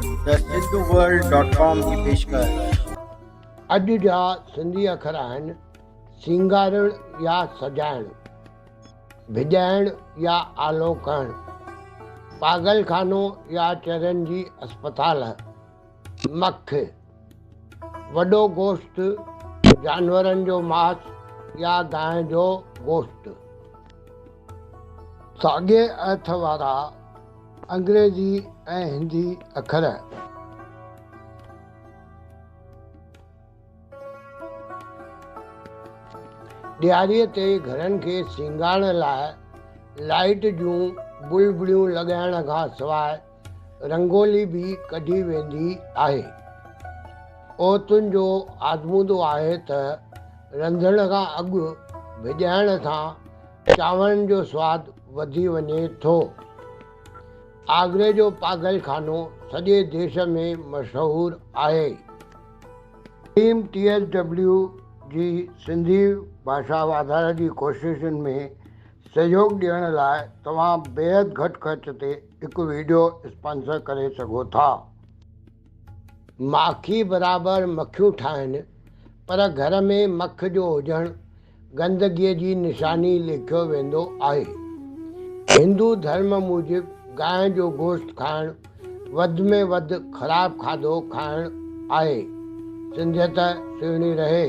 ته Sindhu world dot com جي پيشڪش. اڄ جا سنڌي اکر آهن سينگارڻ يا سجائڻ، ڀڄائڻ يا آلو ڪهڻ، پاڳل خانو يا چرين جي اسپتال، مک، وڏو گوشت، جانورن جو ماس يا گانء جو گوشت، ساڳئي اھٿ وارا، انگريزي ۽ هندي اکر. ڏياريء تي گهرن کي سينگارڻ لاء لائيٽ جون بلبليون لڳائڻ کان سواء رنگولي به ڪڍي ويندي آهي. عورتن جو آزمودو آهي ته رنڌڻ کان اڳ ڀڄائڻ سان چانورن جو سواد وڌي وڃي ٿو. آگري جو پاگل خانو سڄي ديس ۾ مشهور آهي. ٽيم ٽي ايس ڊبليو جي سنڌي ڀاشا واڌاري جي ڪوششن ۾ سهيوگ ڏيڻ لاء توهان بيحد گهٽ خرچ تي هڪ ويڊيو اسپانسر ڪري سگهو ٿا. ماکي برابر مکيون ٺاهن پر گهر ۾ مک جو هجڻ گندگيء جي نشاني ليکيو ويندو آهي. هندو ڌرم موجب گانء جو گوشت کائڻ وڌ ۾ وڌ خراب کاڌو کائڻ آهي. سنڌيت سهڻي رهي.